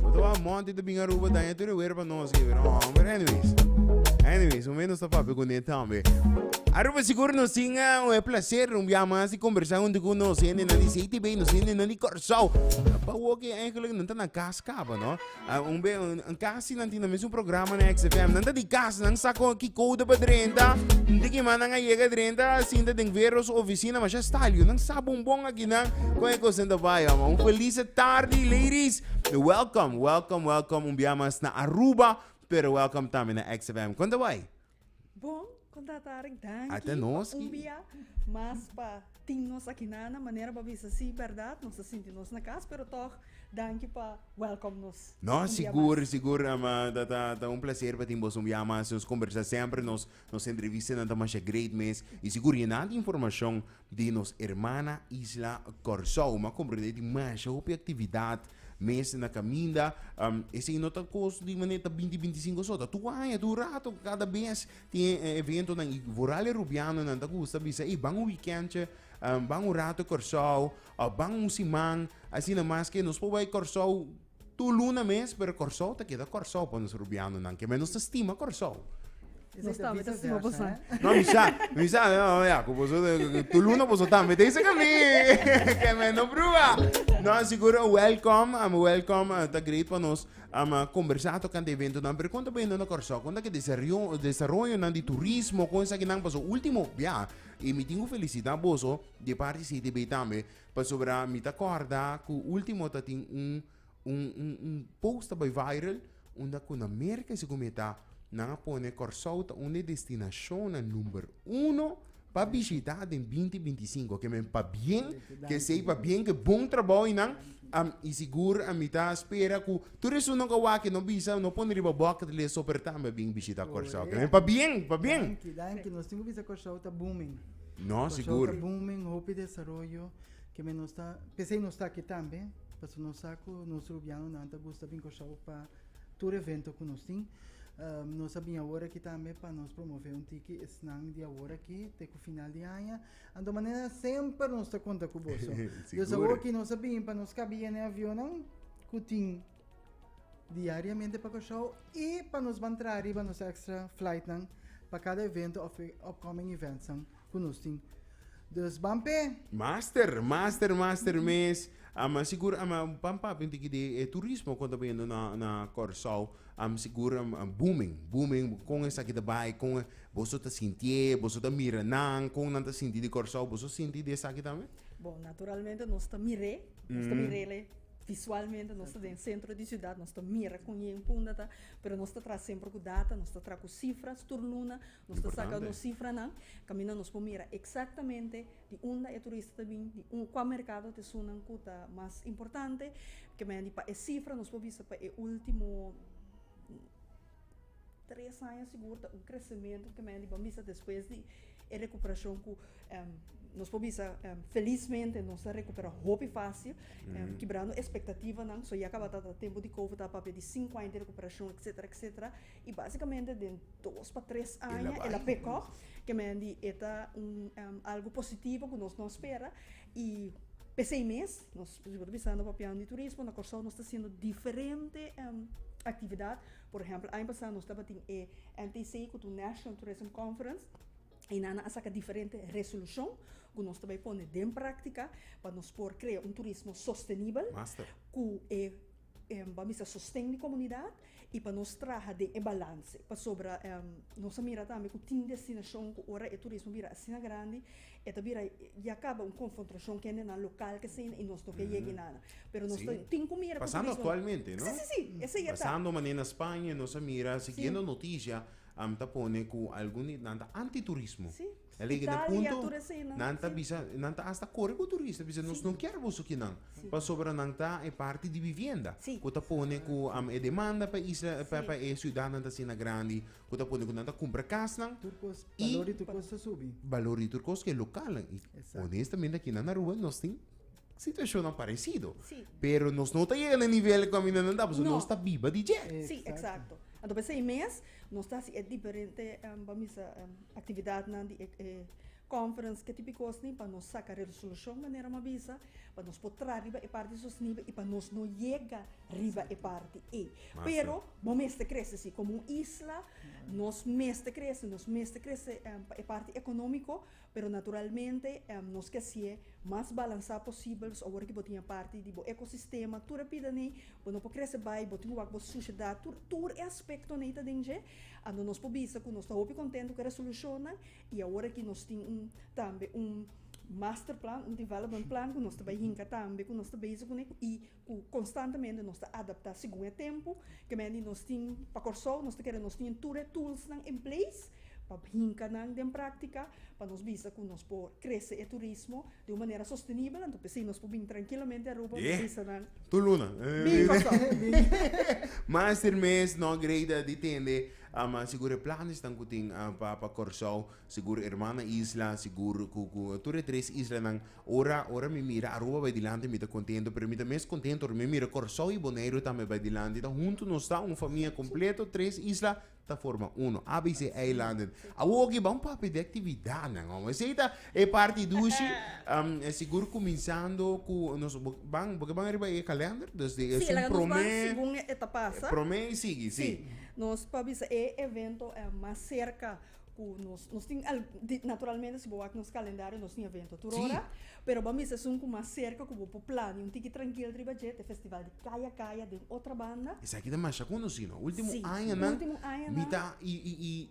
Bo ta wak monti ta bin Aruba daña tur e wer pa nos aki pero aun pero anyways anyways momen nos ta papia kuné tambe Aruba sigur nos tin un e placer un bia mas di kombersá huntu ku nos hende nan di CTB nos hende nan di Kòrsou pa wok e aigelik nan ta na kas kaba no un be un kas. Si nan tin nan mesmu programa na XFM, nan ta di kas, nan sa kon ki kouda pa drenta, di ki man nan a yega drenta, a sinta den vero su oficina, masha Stalio, nan sa bon bon aki nan kon e kos nan ta bai homber. Un felice tardi ladies, welcome, welcome, welcome un bia mas na Aruba, pero welcome tambe na XFM. Kon ta bai? Bon kon ta ta Arik danki pa un bia mas pa tin nos aki na na manera pa bisa si berdad nos ta sinti nos na kas pero tog danki pa welcom nos un bia mas. Sigur sigur ta un placer pa tin bos un bia mas nos kombersá semper nos entrevistanan ta masha great mes i sigur yendad informashon di nos hermana isla Kòrsou. Ma comprende e tin masha hopi actividad mes na caminda. Um, esei no ta cos di manera ta binti, binti cinco so. Ta tur aña, tur rato, cada bes tin e e eventonan. Y vooral e Rubianonan ta gusta bisa, ey, ban un weekendje, um, ban un rato Kòrsou, of ban un siman, asina. Maske nos por bai Kòrsou Tur luna mes, pero Kòrsou ta keda Kòrsou pa nos Rubianonan. Keme nos ta stima Kòrsou. Nos ta bisa stima boso. No, mi sa, mi sa, no, ya, ku boso, tur luna boso ta mete esei ka mi. Keme no pruba. No, sigur, wèlkòm, um, wèlkòm, uh, ta great pa nos, um, kombersá tokante e eventonan. Pero kon ta bendo na Kòrsou? Kon ta ke desario, desaroyonan di turismo, kon esakinan? Paso, último biaha, i mi tin ku felisitá boso di parti CTB tambe, Pasobra mi ta corda cu ultimo ta tin un un un un post ta bay viral unda cu na Merca segun mi e ta nan a pone Corsou ta un di e destinacionnan number uno pa bishita den binti binti sinku ke men pabien kesey pabien ke bon trabou y nan a y sigur a mi ta spera cu tur esunnan cu a wak y no bisa no pone riba bucket list so per tambe a bin bishita Corsou ke men pabien pabien. Danki danki nos tin cu bisa Corsou ta booming. No, Por sigur. Por ta booming, hopi desaroyo, keme nos ta, pesei nos ta aki tambe, paso nos sa ku nos rubianonan ta gusta bin Kòrsou pa tur evento ku nos tin. Um, nos a bin awor aki tambe pa nos promove un tiki esnan di awor aki te ku final di aña. Anto manera semper nos ta konta ku boso. Sigur. Desaroyo ki nos a bin pa nos kabi yene avionnan ku tin Diariamente pa Kòrsou i pa nos ban traha riba nos extra flightnan pa kada evento of upcoming eventsnan ku nos tin. Dus ban p'e. Master, master, master mes. Am sigur am ban papia un tiki di e turismo kon ta biendo na na Kòrsou. Am sigur am booming, booming. Kon esaki ta bai, kon e boso ta sintié, boso ta mira nan, kon nan ta sinti di Kòrsou? Boso sinti di esaki tambe? Bon, naturalmente nos ta mir'é, nos ta mir'é. Visualmente nos ta den centro di ciudad nos ta mira con e en punta ta pero nos ta traha semper cu data nos ta traha cu cifras tur luna nos ta saca nos cifranan caminda nos por mira exactamente di unda e turista ta bini di un cua mercado ta esunnan cu ta mas importante kemey di pa e cifra nos por bisa pa e ultimo. Tres aña sigur ta un crecemento ke men di por bisa despues di e recuperacion cu nos por bisa felizmente nos ta recupera hopi facil kibrando expectativanan so ya tabata ta tempo di covid ta papia di cinco aña di recuperacion etcetera etcetera y basicamente den dos pa tres aña e la pickup ke men di e ta un algo positivo cu nos no a spera I p'esei mes, nos ta sigur bisando papiando di turismo, na Kòrsou nos ta hasiendo diferente aktividat. Por ehèmpel, aña pasá nos tabatin e NTC ku tur National Tourism Conference i nan a saka diferente resolushon ku nos ta bai pone den práktika pa nos por krea un turismo sostenibel ku e. Ba mester sosten di komunidat i pa nos traha den e balanse pasobra nos a mira tambe ku tin destinashon ku ora e turismo bira asina grandi e ta bira ya kaba un konfrontrashon kende nan lokal ke asina i nos no ke yega inana pero nos ta tin ku mira ku turismo Pasando aktualmente no si si si esei e ta pasando mane na Spaña nos a mira siguiendo notisia ta pone ku algun di nan ta antiturismo. Spitalia y a tur esei nan. Nan ta bisa, nan ta hasta kore ku turista bisa nos no kier boso aki nan pasobra nan ta e parti di bibienda ku ta pone ku e demanda pa isla pa e siudat nan ta asina grandi ku ta pone ku nan ta kumpra kasnan i balor di tur kos ta subi balor di tur kos ku e lokalnan i honestamente aki nan na Aruba nos tin situashonnan paresido pero nos no ta yega na e nivel ku kaminda nan ta pasobra nos ta biba di dje. Exacto. Anto por esei mes nos ta hasi e diferente, vamos bisa. Actividadnan di e conference ke tipo cosnan pa nos saca resolucion manera m'a bisa pa nos por traha riba e parti sostenible y pa nos no yega riba e parti ey. Pero bo mester crece si como un isla nos mester crece nos mester crece pa e parti economico pero naturalmente nos ke haci'e mas balansa posibel pasobra awor ke bo tin e parti di bo ecosistema tur a pida nei bo no por crece bay bo tin wak bo sociedad tur e aspecto nei ta den dje. Ando nos por bisa cu nos ta hopi contento cu e resolucionnan y awor aki nos tin un tambe un masterplan, un development plan cu nos ta bay hinca tambe cu nos ta bezig cu ne y cu constantemente nos ta adapta segun e tempo que me di nos tin pa Corsou nos ta kere nos tin tur e toolsnan in place pa hinca nan den practica pa nos bisa cu nos por crece e turismo. di un manera sostenibel, anto p'esei nos por bini trankilamente Aruba unda bisa nan. Tur luna. Bingo so. Mas ter mes no greida di tende sigur e planesnan ku tin pa pa Kòrsou, sigur Hermana Isla, sigur ku ku tur e tres islanan. Ora ora mi mira Aruba bai dilanti mi ta kontento, pero mi ta mes kontento ora mi mira Kòrsou i Boneiru tambe bai dilanti. Ta huntu nos ta un famia kompleto, tres isla. ta forma uno. ABC Eilanden. Awor oki ba un papia di actividadnan, hombre. Esey ta e parti dushi, um, eh, sigur cuminsando cu nos bo- ban, boke ban riba e calender, dus di es Sí, un laga nos ban prome, segun e e ta pasa. prome y sigui, Sí. sí. Nos por bisa e evento eh mas cerca Cu nos, nos tin al, di, naturalmente si bo wak nos calendario nos tin evento tur ora, pero bo a mester sun cu mas cerca cu bo por plania un tiki trankil riba dje, t'e festival di Kaya Kaya den otra banda. Esaki ta masha conocido, ultimo Si, añanan, ultimo añanan. mi ta, y, y, y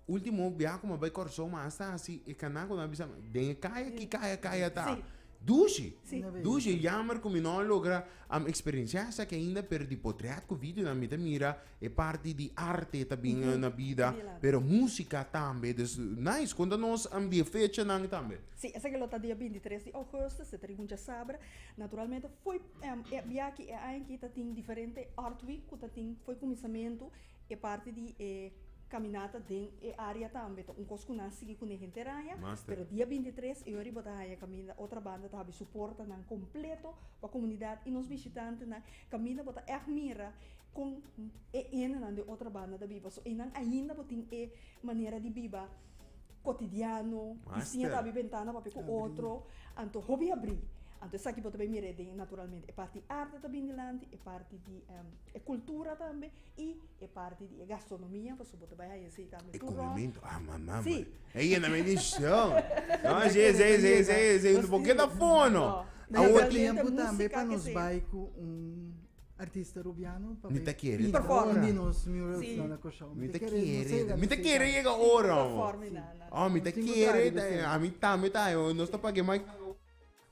ultimo biaha cu mi a bay Corsou mi a hasta haci e cana cu nan a bisa, den e caya aki Kaya Kaya ta. Si. Dushi, Si. dushi, jammer cu mi no a logra am experienciá esaki ainda, pero di potread cu videonan mi ta mira. E parti di arte ta bin na bida pero musika tambe dus nice konta nos am di e fechanan tambe. Sí, esaki lo ta dia bintitres di ougùstùs, se ta di mucha sabra. Naturalmente fo'i e biachi e aña aki ta tin diferente Art Week ku ta tin fo'i kuminsamentu e parti di e kaminata den e área tambe. Ta un kos ku nan sigui kuné henteraña, pero dia bintitres e yori bo ta haña kaminda otra banda ta habi su portanan kompleto pa komunidat i nos bishitantenan. Kaminda bo ta ègt mira. Kon e endenan den otro banda ta biba? So einan ainda bo tin e manera di biba kotidiano, di siña ta abri bentana papia ku otro, anto hopi abri. Anto esaki bo ta bin mira e den naturalmente e parti arte ta bin dilanti, e parti di e kultura tambe i e parti di e gastronomia pasobra bo ta bai haña esei tambe tur rònt. Si. Bo ke ta fono. Awo tempu tambe pa nos bai ku un. Artista Rubiano pa Mi ta kere pinta performa. un di nos murals Sí. nan a Kòrsou. Mi ta no kere, sega ta- mi ta sega. kere yega ora, Sin mo. perform ni nada, nada. Oh, mi ta Sin kere, contrario, ta- bese. a mi tambe ta, oh, nos ta pag'é maki.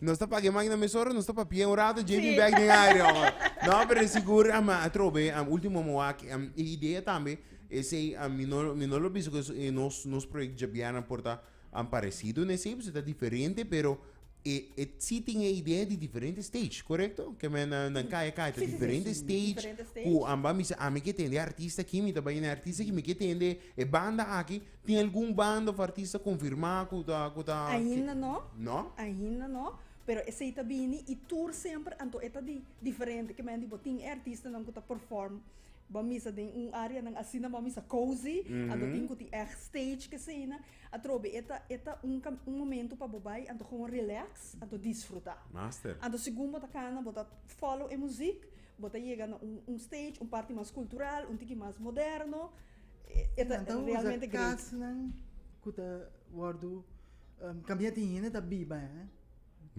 Nos ta pag'é maki na mesora, nos ta papi'é un rato, JB Sí. back den área, mo. No, pero e sigur, am, a trobe, am, último mo wak, am, e idea tambe, esei, am, mi no, mi no lo bisa ku e nos, nos project djabianan por ta An parecido ne si, p'esei ta diferente, pero e e si tin e idea di diferente stage, correcto? Keme na na kaya kaya ta diferente stage ku an ban bisa ami ke tende artista aki, mi ta bai na e artista aki, mi ke tende e banda aki, tin algun banda of artista konfirmá ku ta ku ta Ainda no, No? ainda no, pero esei ta bini i tur semper anto e ta di diferente, ke men di bo tin e artistanan ku ta perform Bo misa den un areanan asina bo misa cozy anto tin cu tin echt stage keseyna atrobe e ta e ta un cam un momento pa bo bay anto gewoon relax anto disfruta Master. anto segun bo ta cana bo ta follow e muziek bo ta yega na un un stage un parti mas cultural un tiki mas moderno e e ta realmente great. Nan ta usa casnan cu ta wordo cambia tin hende ta biba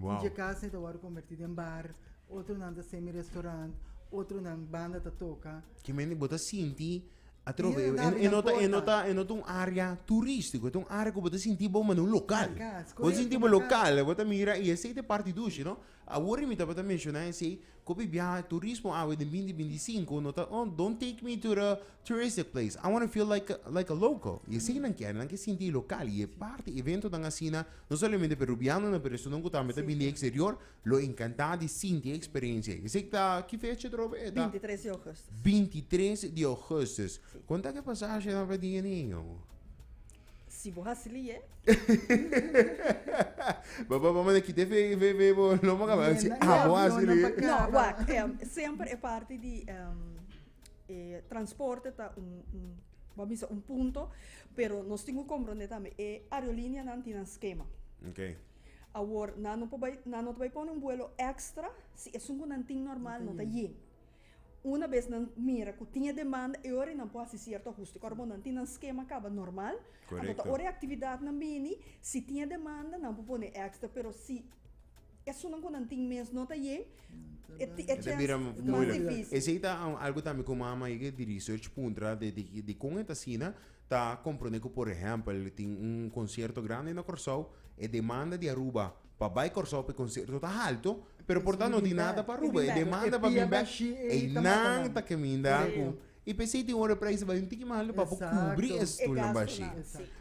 Dje kasne ta wòrdu konvertí den bar, otronan ta semi restorant, otronan banda ta toka. Ki mende bo ta sinti atrobe? E no ta e no ta e no ta un área turístiko, e ta un área ku bo ta sinti bo manda un lokal. Bo ta sinti bo lokal, bo ta mira i esei ta e parti dushi, no? Awor mi tabata menshoná esei, Kopi biaha turismo awe den binti binti sinku no ta oh don't take me to the touristic place I wanna feel like like a local y esey nan kere nan ke sinti lokal y e parti eventonan asina no solamente perubianonan pero esunnan ku tambe ta bini di eksterior lo enkantá di sinti e eksperensia ei esey ta ki fecha otro vez ta Binti tres di ougustus binti tres di ougustus konta ke pasashi nan pa di e niño. Si bo hasi li e. Bo bo bo manda kite fe fe fe bo lo mo kaba si Yena, abo e hasi avionan li. pa No, Cava. wacht. em, semper e parti di em, e transporte ta un, un, bo a bisa un punto, pero nos tin cu comprende tambe, e aerolineanan tin nan schema. Okay. Awor, nan no por bay, nan no ta bay pone un vuelo extra si esun cu nan tin normal no ta yin. Una bes nan mira ku tin e demanda e ora nan por hasi sierto ahuste. Ku ora nan tin nan skema kaba normal, anto ta ora e aktividatnan bini, si tin e demanda nan por pone èkstra, pero si esunnan ku nan tin mes no ta yen, e chèns mas difísil. Esei ta algu tambe ku mama a higi di research puntra di kon e ta asina. Ta comprende cu por ehempel tin un concierto grande na Corsou, e demanda di Aruba pa bay Corsou p'e concierto ta halto, pero por tanto no tin nada pa Aruba, e demanda pa bin bek ey nan ta caminda cu, y p'esey tin ora e prijs ta bay un tiki mas alto pa por cubri e stolnan bashi.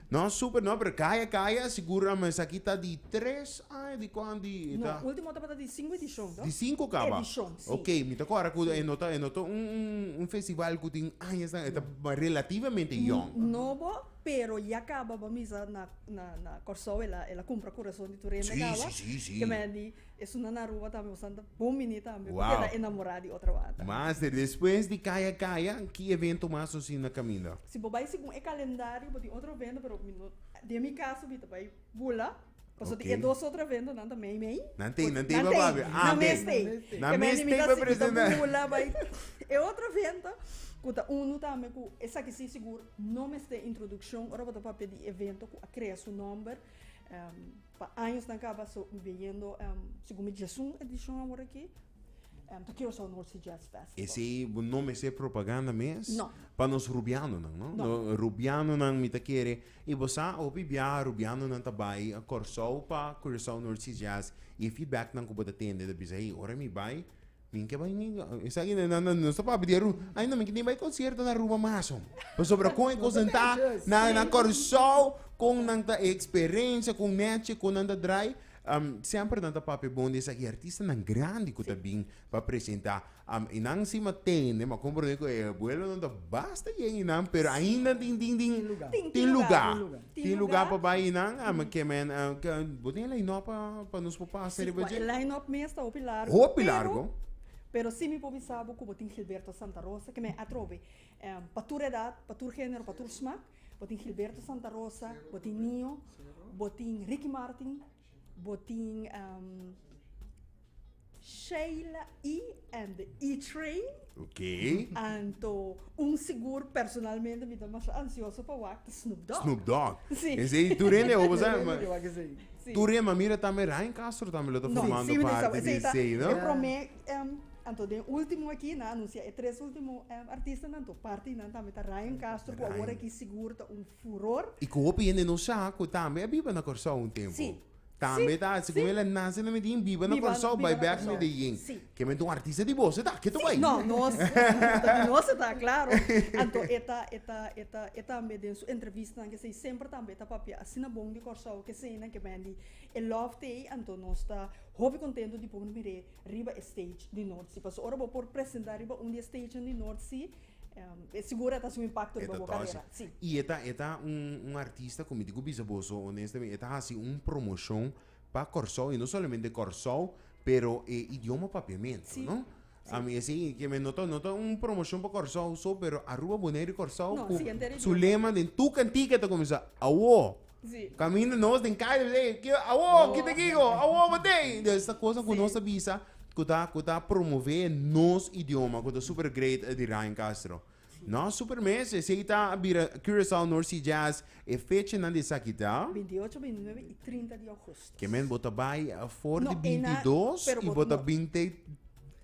Nos super, no, pero caya caya, seguro esaki ta di tres Ah e di cuan di e ta? No, ultimo tabata di cinco edicion to. Di cinco caba? Edicion, si. Ok, mi ta cuadra cu e no ta, e no ta un, un, un festival cu tin añasnan, e ta relativamente yong. Nobo, pero ya caba bo a misa na, na, na Corsou, el a, el a cumpra Curason di tur hende Si, caba. si, si, si. Kimen di esuna na Aruba tambe, bosan ta bon bini tambe, porque el a Wow. enamora di otro wata. Master, despues di Kaya Kaya, ki evento mas nos tin na caminda? Si bo bai segun e calendario, bo tin otro evento, pero mi no, den mi caso mi ta bai bula. Paso di e dos otro evento nan ta mei mei. Nan tei, nan tei pa papi. Ah, nan mes tei. Nan mes tei pa presenta. E otro evento, ku ta unu tambe ku esaki si sigur no mester introdukshon ora bo ta papia di evento ku a krea su nòmber pa añosnan kaba. So mi bin yendo, segun mi diasun edishon awor aki, ta Curaçao North Sea Jazz Festival. Esei bo no mester propaganda mes? No. Pa nos rubianonan, no? No. Rubianonan mi ta kere I bo sa, hopi biaha Rubianonan ta bai Kòrsou pa Curaçao North Sea Jazz i e feedbacknan ku bo ta tende ta bisa, Hey, ora mi bai, mi ke bai niga. Esaki nan, nan, nos ta papia di Aruba. Ay no, mi ke tin bai konsierto na Aruba mas, hombre. Pasobra kon e kos den ta na, na Kòrsou, kon nan ta e eksperensia, kon nèchi ku nan ta drai, semper nan ta papia bon di esaki artistanan grandi ku ta bin pa presentá. Am i nan si ma tende ma komprende ku e abuelonan ta basta yen i nan pero ainda tin tin tin Tin lugar. tin Tin lugar, lugar tin lugar. tin lugar pa bai i nan a me ke men a ke bo tin e line up pa pa nos papá hasi riba Kua e dje line up mes ta hopi largu Hopi pero largu. pero si mi por bisa bo ku bo tin Gilberto Santa Rosa ke men atrobe em pa tur edat pa tur genero pa tur smak bo tin Gilberto Santa Rosa bo tin Nio bo tin Ricky Martin Bo tin Sheila E and the E Train. Ok. Anto un sigur personalmente mi ta masha ansioso pa wak ta Snoop Dogg. Snoop Dogg. Sí. Esei tur hende hobo sa. Tur hende ke wak esei. Sí. Tur hende, ma mira tambe Ryan Castro tambe lo ta formando No, sí, mi ta parte di esei ta esei, no? e prome anto den ultimo aki nan anunsia e tres ultimo artistanan anto parti di nan tambe ta Ryan Castro ku awor aki sigur ta un furor. I ku hopi hende no sa ku tambe a biba na Kòrsou un tempu. Tambe ta hasi ku mi la nase na Medin, biba na Kòrsou, bai bèk na Medellin. Ke mente un artista di boso ta ketu bai. No, nos, di nos e ta klaro. Anto e ta, e ta, e ta, e tambe den su entrevistanan kesei semper tambe e ta papia asina bon di Kòrsou keseña ke men di e lòf te ei. Anto nos ta hopi kontentu di por mir'é riba e stage di Nòrtsí. Pasobra ora bo por presentá riba un di e stagenan di Nòrtsí. E sigur a ta haci un impacto riba bo carera, si. Y e ta e ta un un artista cu mi tin cu bisa boso honestamente e ta haci un promocion pa Corsou y no solamente Corsou pero e idioma papiamento, no? Si, si. A mi esey e kieme no ta no ta un promocion pa Corsou so pero Aruba, Bonaire y Corsou cu su lema den tur cantica ta cuminsa awo. Kaminda nos den kaya nos ey ke awo kita kiko awo bo tey de esta kosa ku nos ta bisa ku ta ku ta promove nos idioma ku ta super great di Ryan Castro no super mes esey ta a bira Curaçao North Sea Jazz e fechanan di esaki ta binti ocho binti nuebe i trinta di augustus kemen bo ta bai for di binti dos i bo ta binte.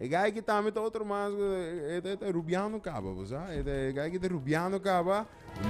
E guy aki tambe ta otro mas cu e ta e ta rubiano caba bo sa e ta e guy aki ta rubiano caba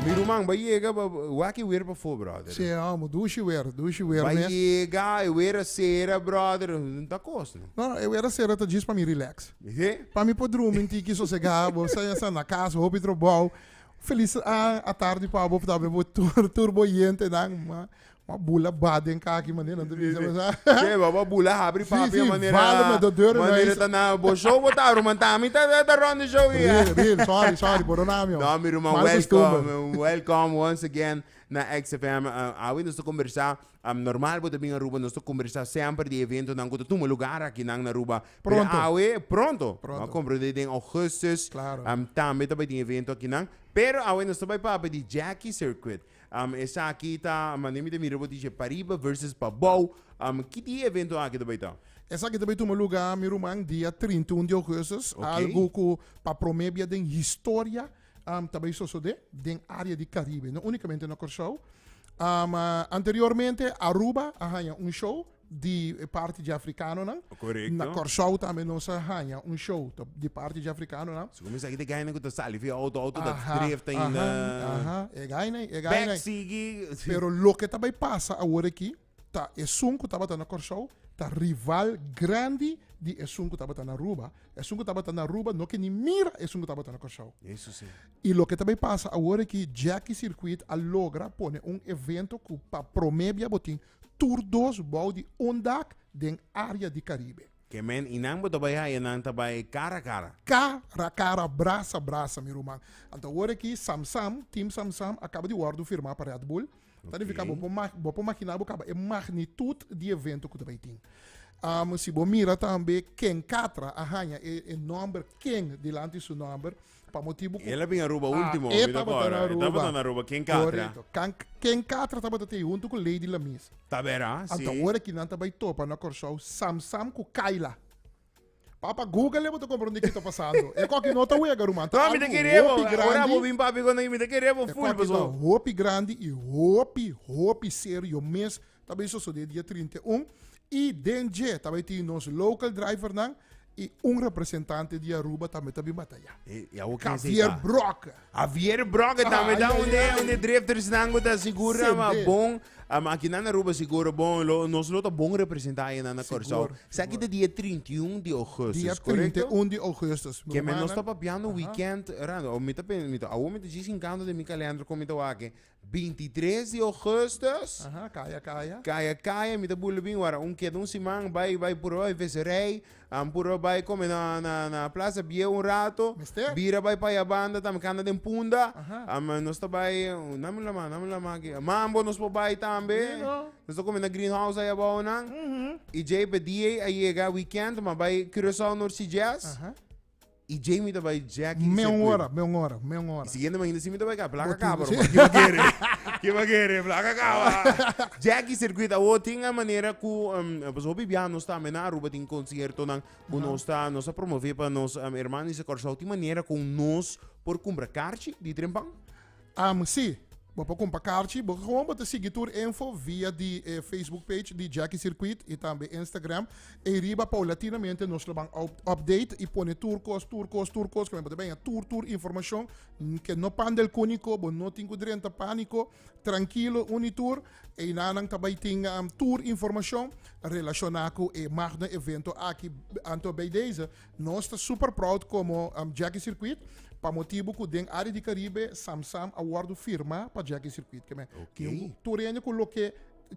mi ruman bay yega pa wak e wer pafo brother Sí, e amo. Dushi wer, dushi wer bay mes. yega e wer a cera brother no ta cos no No, no, e wer a cera ta djis pa mi relax. oke Pa mi por drumi un tiki sosega, bo sa ya sa na cas hopi trobao. Feliz a a tardi pa bo, por tabata bo tur tur bo yentenan, ma Ma bula ba den kaki mane nan tubi sa sa. Sí, ba ba bula habri Sí, papi sí, manera. vale me do deuren na Manera is. ta na bo show bo ta ruman ta mi ta ta rond the show Real, ya. real. Sorry, sorry. Por doná mi, ho. No, mi ruman, Mal costumber. welcome. Welcome once again na XFM. Uh, awe nos ta conversá, um, normal bo ta bin Aruba, nos ta conversá semper di eventonan cu ta tuma lugar akinan na Aruba. Pero Pronto. awe, pronto, bo a Pronto. comprende, den augustus, Claro. um, tambe ta bay tin evento akinan. Pero awe nos ta bay papia di Jackie Circuit. Um, esaki ta, manera mi ta mira bo dice, pariba versus pabou. Um, ki di evento aki ta bay ta? Esaki ta bay tuma luga, mi ruman, dia trinta i un di augustus, okay. algu cu pa prome bia den historia um, ta bay sosode den area di Caribe, no unicamente na Corsou. Um, anteriormente Aruba a haya un show, di e parti di afrikanonan. Korekto. Na Kòrsou tambe nos a haña un show ta di parti di afrikanonan. Su kuminsá ki te gainan ku ta sali via outo, outo ta Aha, dreef ta aha, inda. aha, e gainai, e gainai. Bèk sigui. Pero loke ta bai pasa awor aki ta esun ku tabata na Kòrsou ta rival grandi di esun ku tabata na Aruba. Esun ku tabata na Aruba no ke ni mira esun ku tabata na Kòrsou. Eso sí. I loke ta bai pasa awor aki, Jackie Circuit a logra pone un evento ku pa promé bia bo tin Tur dos bou di un dak den área di Karibe. Ke men i nan bo ta bai haya nan ta bai kara kara. Kara kara brasa brasa mi ruman. Anto awor aki Sam Sam, Team Sam Sam, a kaba di wòrdu firmá pa Red Bull. Ta nifiká bo por bo por makiná bo kaba e magnitut di evento ku ta bai tin. Si bo mira tambe ken Katra a haña e nòmber ken dilanti su nòmber. Pa motibu ku. El a bin Aruba último, Ah, e mi ta tabata na kòrda. E tabata Aruba. na Aruba. Ken katra? Korekto. Kan, ken katra tabata te huntu ku Lady Lamis. Ta bera, si. Anto ora ki nan ta bai topa na Kòrsou Sam Sam ku Kayla. Papa, Google e bo ta komprondé ki ta pasando. E kòki no ta wega, ruman. Ta No, mi ta algu kere bo. hopi Ora bo grandi. bin papia kònde mi, mi ta kere bo E ful, kòki ta paso. hopi grandi i hopi, hopi serio mes. Ta bay sosode dia trinta i un y den dje ta bay tin nos local driver nan y un representante di Aruba tambe ta bin bataya. Eh, ya wo ken sei Javier ta. Broca. Javier Broca tambe Ah, ta ja, onde ja. onde drifters nan go ta segura Sende. ma bon um, aki nan na Aruba seguro bon lo nos lo ta bon representa aye nan na Segur, Curaçao. segur. Saki ta dia 31 di Dia augustus, correcto? 31 di augustus. mi Ke men nos hermana. ta papiando weekend rando. O mi ta pen, mi ta, awo mi ta djis inkanto den mi kalendro kon mi ta wak e. binti tres di Augustus. Aha, kaya kaya. Kaya kaya mi ta bula bin wara un keda un siman bai bai puru bai viserei an puru bai kome na na na plaza bieu un rato Mester. bira bai pa ya banda tambe kanta den punda Aha. am nos ta bai nan mi lama nan mi lama aki mambo nos por bai tambe Sí, no. nos ta kome na green house ai abou nan Mhm. y djei pa dia a yega weekend ma bai Curaçao North Sea Jazz Aha. Y djey mi ta bay Jack y Meon Sequin. ora, meon ora, meon ora. Y siguiente mañana si mi ta bay ka, plaka Bo tin, caba sí. roman. Kiba kere? Kiba kere? Plaka caba. Jack y Circuit, awo tin a manera cu em, pues hopi biaha nos ta ambe na Aruba tin conciertonan cu Aha. nos ta nos ta promove pa nos em, hermanonan di Curaçao. Tin manera con nos por cumpra carchi di Trempan? Am si. Bo por kumpa karchi. Bo gewoon bo ta sigui tur info via di e Facebook page di Jackie Circuit i tambe Instagram. Ei riba paulatinamente nos lo ban update i pone tur kos, tur kos, tur kos komo e bo ta benga tur tur informashon. Ke no panda el kuniko, bo no tin ku drenta pániko. Trankilo uni tur. Einanan ta bai tin tur informashon relashoná ku e magno evento aki. Anto bei deze Nos ta super proud komo Jackie Circuit pa motibu ku den área di Karibe Samsam a wòrdu firmá pa Jackie Circuit. Kem'e tin tur hende ku loke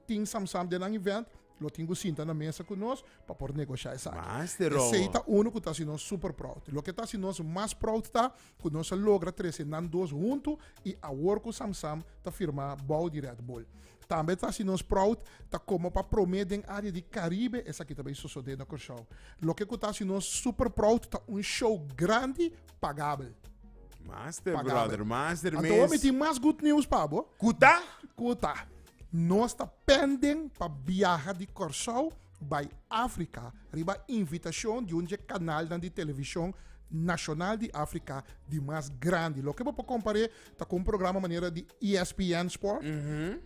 tin Samsam den nan event lo tin ku sinta na mesa ku nos pa por negoshá esaki. Esei ta unu ku ta hasi nos super proud. Loke ta hasi nos mas proud ta ku nos a logra trese nan dos huntu i awor ku Samsam ta firmá bou di Red Bull. Tambe ta hasi nos proud ta komo pa promé den área di Karibe esaki ta bai sosodé na Kòrsou. Loke ku ta hasi nos super proud ta un show grandi pagabel. Master, Pagabel. brother. Master, Anto mes. mi tin mas good news pa bo. Ku ta? Ku ta, nos ta penden pa biaha di Kòrsou bai Afrika riba invitashon di un di e kanalnan di televishon nashonal di Afrika di mas grandi. Loke bo por kompar'é ta ku un programa manera di ESPN Sport.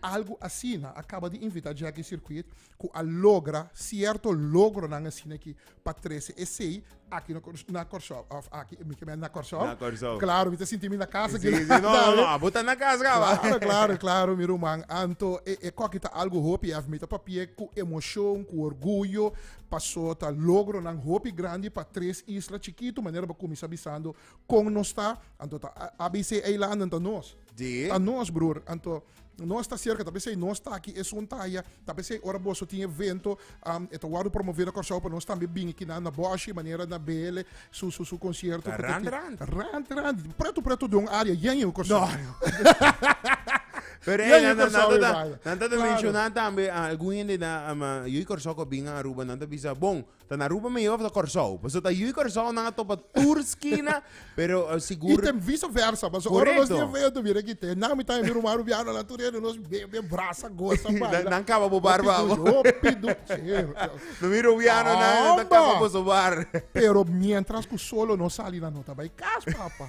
Algu asina a kaba di invitá Jackie Circuit ku a logra sierto logronan asina ki pa trese esei Aki no Cors na Corsou of aki mi ke mester na Corsou na Corsou claro mi ta sinti mi na casa si si no no abo ta na casa caba claro claro claro mi ruman anto e e coki ta algo hopi ef mi ta papia cu emocion cu orguyo paso ta logronan hopi grandi pa tres isla chikitu manera bo cuminsa bisando con nos ta anto ta ABC eilandentan nos si ta nos broer anto. Nos ta cerca, tal vez ei nos ta aki esun ta aya, tal vez ei ora boso tin evento, um, e ta wado promover na Curaçao pa nos tambe bin aquí na, na Boshi, manera na BL, su, su, su concierto. Ta rand, rand. Rand, rand. Preto, preto de un área, yen yen Curaçao. Pero ei, nan ta mencionan tambe, algun hende na, yo y Curaçao ko bin a Aruba, nan ta bisa, bon, Ta na Aruba mihó of ta Kòrsou? Pasobra ta yu i Kòrsou nan a topa tur skina, pero I sigur tem vice versa, pasobra ora nos Correcto. tin feo ta bira kité. Nan mi ta mi ruman rubiano nan tur hende nos bebe, brasa, gosa, Nan- baila. nan kaba bo bar, Hopi babo. du- hopi du- Sí. No mi rubiano nan ta Amba! kaba boso bar. Pero mientras ku solo nos sali nan no ta bai kas, papa.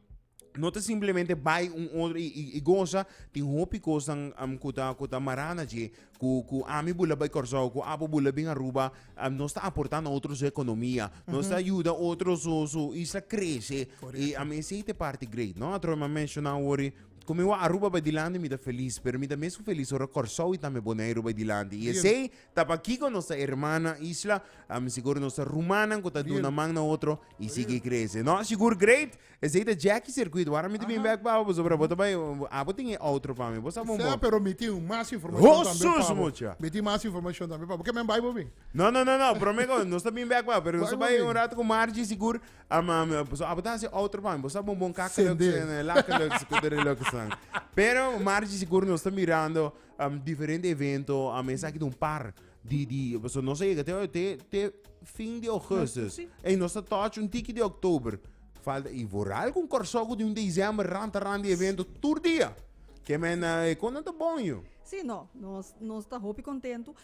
no ta simplemente bai un otro y, y, y goza, tin hopi cosnan um, cu ta, cu ta mará na dje, cu, cu ami bu la bai Curaçao, cu apo bu la bin Aruba, um, nos ta aportá na otro su economia, nos ta yuda otro su, su isla crece, y a mi esey ta e parti great, no? Atrobe mi a mencioná awor-i, cu mi wou Aruba bai dilanti mi ta feliz, pero mi ta mes cu feliz ora Curaçao y tambe Boneiru bai dilanti, y esey Ta pakiko nos ta erman na isla, am sigur nos ta rumannan ku ta Bien. duna man na otro i sigui krese. No, sigur great. Esei ta Jackie Circuit. Wara mi ta bin Aha. bèk pa boso, pero bo ta bai abo tin e outro pa mi. Bo sa bon Sea, bon. pero mi tin mas informashon Oh, tambe sus, pa bo. mucha. Mi tin mas informashon tambe pa bo. Ke men bai bo bin? No, no, no, no. Prome ko nos ta bin bèk pa, pero nos ta Bai bai bo un bin. rato ku Margie sigur. Am am boso abo ta hasi outro pa mi. Bo sa bon bon kakelux Sendé. en lakelux, kudurelux nan. Pero Margie sigur nos ta mirando. um, diferente evento, a mesa aquí un par di di so no se llega te te te fin de augustus. Sí. En nos está touch un tiki de oktober. Falta y vooral con corsogo de un diciembre ranta ranta de evento tur dia. Que men eh, con dat bonjo. Sí, no, nos, nos está hopi contento.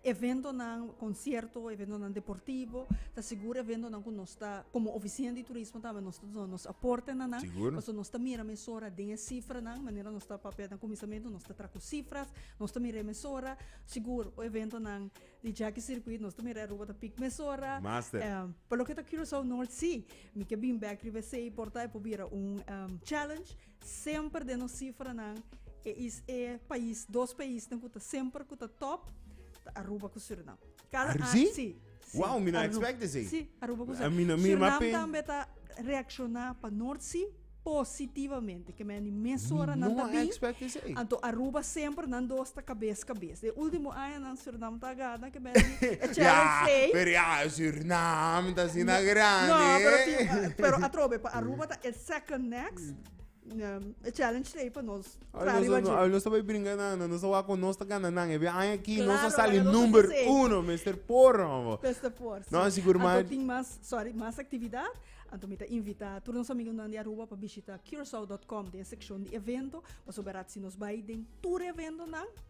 Eventonan, konsierto, eventonan deportivo, ta sigur eventonan ku nos ta komo ofisina di turismo tambe nos ta duna nos aporte na nan, pasobra nos ta mira mesora den e sifranan, manera nos ta papia den kuminsamentu nos ta traha ku sifras, nos ta mira e mesora, sigur ku eventonan di Jaki Sirkuit nos ta mira Aruba ta pik mesora, pa loke ta Curaçao Nort si, mi ke bin bek riba esei por ta e por bira un challenge. Semper den nos sifranan e is e pais, dos paisnan ku ta semper ku ta top ta Aruba ku Surinam. Kada Ar- sí? sí, sí, Wow, mi no Aru- expect esei. Sí, Aruba ku A Surinam. mi no- mi Surinam mape- tambe ta reakshoná pa North Sea positivamente. Ke men di mes Mi ora nan no ta a bin. expect esei. Anto Aruba semper nan dos ta kabes kabes. Den último añanan Surinam ta gana ke men di e Challenge Ya, Seis. pero ya, Surinam ta asina grandi. No, pero, e. tin- pero atrobe, pa Aruba ta e second next. E challenge lei pa nos. Tra riba jin. Ay, no sabe bringa na, no sabe ako nos ta gana nan. Ebi ay aki, no sa sali number uno, Mr. Por, homo. Mr. Por, si. No, sigur man. Anto tin mas, sorry, mas actividad. Anto mi ta invita tur nos amigunan di Aruba pa bishita curacoa.com den seccion di evento, pasobra si nos bai den tur eventonan,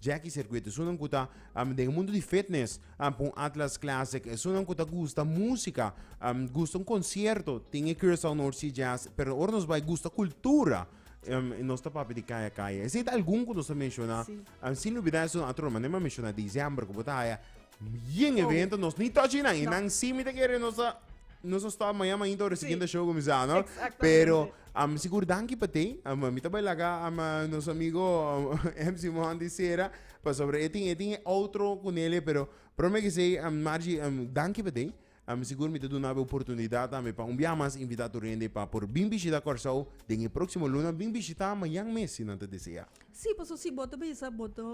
Jackie Circuit esunnan ku ta um, den e mundu di fitness, um, pa un Atlas Classic, esunnan ku ta gusta músika, um, gusta un konsierto, tin e Curaçao North Sea Jazz, pero ora nos bai gusta kultura, um, nos ta papia di kaya kaya. Esei ta algun ku nos ta menshona, Sí. um, sin lubidá esun atro, mané mi a menshona diciember ku bo ta haya, Bien evento, nos ni touchy nan. Y nan sí mi te kere nos a nos a stop mañana ainda ora siguiente show comienza, no? Pero um, sigur danki pa te. Um, mi ta baila ka um, nos amigo um, MC Monty Sera pa sobre etin etin outro kunele pero prome ki sei um, Margie um, danki pa te. Um, sigur mi te duna be oportunidad tambe pa un bia mas invita tur hende pa por bin bishita Kòrsou den e proximo luna bin bishita mañan mes si nan ta desea. Sí, paso si bo ta bisa bo ta.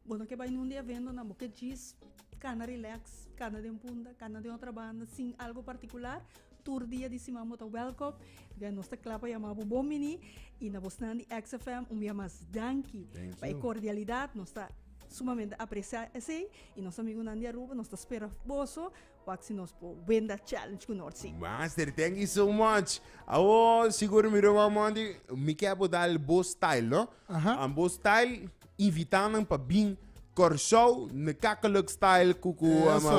Bo no ke bai nunde eventonan bo ke djis kana rileks kana den punta kana den otra banda sin algo partikular tur dia di siman bo ta wèlkòm den nos ta kla pa yama bo bon bini i na bosnan di XFM un bia mas danki pa e kordialidat nos ta sumamente apresiá esei i nos amigunan di Aruba nos ta spera boso. Wak si nos por wenda challenge ku North Sea. Master thank you so much awo sigur mi roba monte mi ke bo dal bo style no an bo style invita nan pa bin Kòrsou na kakeluk style ku ku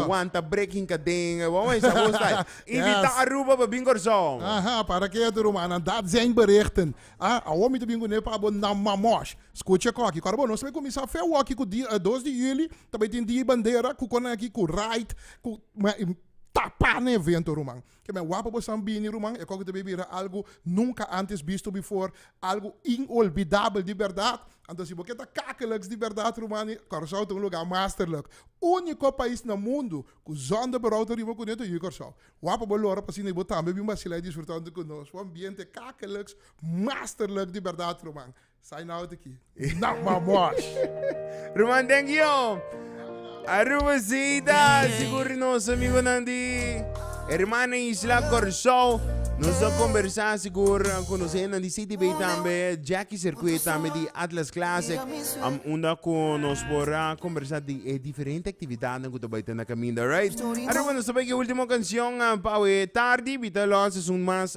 wanta breking kaden e wawon esa bo style invita Aruba pa bin Kòrsou awor. Aha para ke ato rumannan dat zijn berichten a awor mi ta bin kuné pa bo nan mamosh skucha koki kòrbo nos ta bin kuminsá fewòki ku dia dos di juli Ta bay tin dia y bandera cu conan aki cu ride cu ma y tapa na evento ruman. Ke me wappo bo staan bini ruman e koko ta bay bira algo nunca antes bisto before, algo inolbidabel di berdad. Anto si bo ke ta kakeliks di berdad ruman y Curaçao ta un lugar masterlijk. Unico pais na mundo cu zonder berou ta riba cu neto y Curaçao. Wappo bo loro pa asina y bo tambe bin bacila y disfruta hunto cu nos. Un ambiente kakeliks masterlijk di berdad ruman. Sign out aki. Not my watch. Ruman thank you. Aruba Zeta, sigur di nos amigunan di Hermana Isla Corsou. Nos a conversa sigur con nos hennan di CTB tambe, Jackie Circuit tambe di Atlas Classic. Um, unda cu nos por a conversa di e diferente actividadnan cu ta bay ta na caminda, right? Aruba nos ta bay ki ultimo cancion ah, pa awe tardi, bita lo seizoen mas